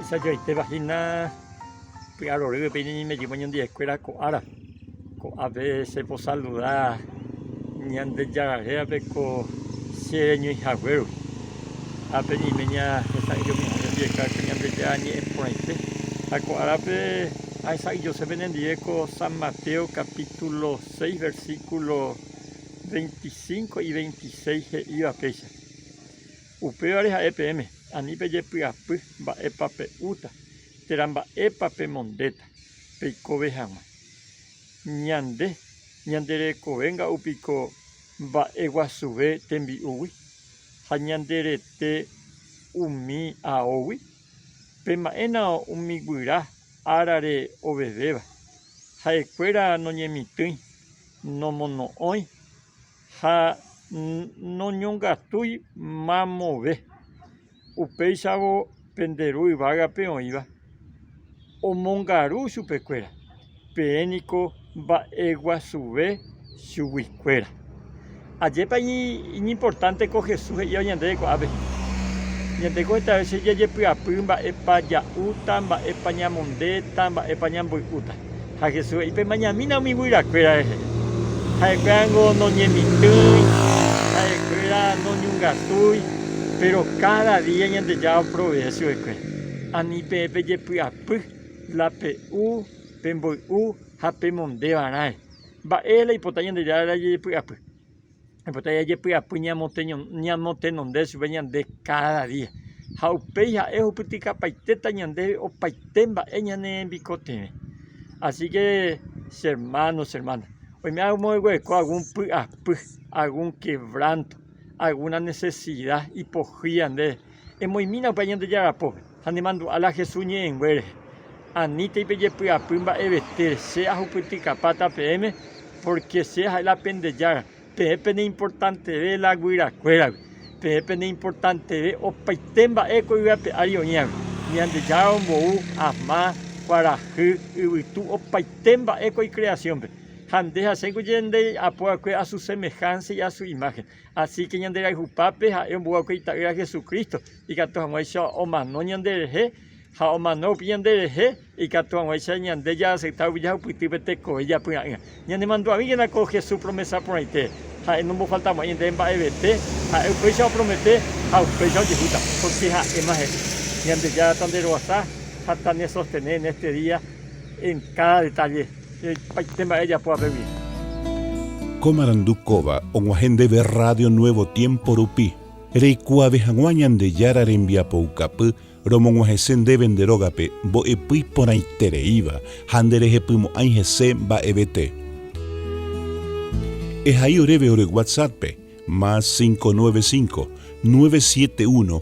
Mba'eichajoaitéva hína py'arory peine ñaimejýva ñandeaikuéra ko ára, ko'ápe cheposaluda Ñandejárape ko che reñoihaguérõ, ha pe'ime ñahesa'ỹijo ñandepieka ko Ñandejára ñe'ẽ porãite, ha ko árape ahesa'ỹijosépe nendive ko San Mateo capítulo seis versículo 25 y 26 he'íva péicha. Upévare ha'e peẽme, ani pejepy'apy mba'épa pe'úta térã mba'épa pemondéta peikove hag̃ua. Ñande ñande rekove nga'u piko mba'e guasuve tembi'úgui ha ñande rete umi aógui? Pema'ẽna umi guyra árare ovevéva, ha'ekuéra noñemitỹi nomono'õi ha noñongatúi mamove. Upéichavo pende Ru yvágape oĩva omongaru chupekuéra, peẽ niko mba'eguasuve chuguikuéra. Ajépa iñimportánte ko Jesús he'íva ñandéve ko'ápe! Ñande ko hetave che jajepy'apy mba'épa ja'úta, mba'épa ñamondéta, mba'épa ñamboy'úta. Ha Jesús he'i, Pemañamína umi guyrakuéra rehe. Ha'ekuéra ningo noñemitỹi, ha'ekuéra noñungatúi, péro káda día Ñandejára oprovee chuvekuéra. Ani peẽ pejepy'apy la pe'u, pemboy'u ha pemondévarãre. Mba'e la ipota Ñandejára jajepy'apy? Ipota jajepy'apy ñamotenonde chupe ñande káda día. Ha upéi ha'e ohupytykapaitéta ñandéve opaite mba'e ñanembikotevẽ. Asíke che ermáno che ermána, oime amogueko algún py'apy, algún kevránto, algúna nesesida ipohýi ñandéve, emoimína upéva Ñandejára pópe. Ha nemandu'a la Jesús ñe'ẽnguére, Anítei pejepy'apy mba'evete, che ahupytykapáta peẽme, pórke che ha'e la pende Jára, peẽ peneimportanteve la guyrakuéragui, peẽ peneimportanteve opaite mba'e ko yvy ape ári oĩvagui, Ñandejára ombou ama, kuarahy, yvytu, opaite mba'e ko ikreasiónpe. Ha nde hasẽko che nde apova'ekue asu semehánsa y asu imáhen. Asíke ñanderayhupápe ha'e omboguapy Ita'ýra Jesucristo, ikatu hag̃uáicha omano ñanderehe, ha omano rupi ñanderehe, ikatu hag̃uáicha ñande jaaseita rupi jahupytýpe tekove japyra'ỹva. Ñanemandu'avíkena ko Jesús promesa porãite, ha'e nombofaltamo'ãi ñandéve mba'evete, ha'e upéicha opromete ha upéicha ojehúta, pórke ha'éma he'i, Ñandejára taneroasa ha tanesostene en éste día en káda detálle. Opaite mba'e ejapo apégui. Ko marandu kóva og̃uahẽ ndéve Radio Nuevo Tiempo rupi, reikuaave hag̃ua Ñandejára rembiapoukapy romog̃uahẽse ndéve nde rógape mbo'epy porãitereíva ha nderehepymo'ãi hese mba'evete. Ehai oréve ore WhatsApp-pe, más 595, 971,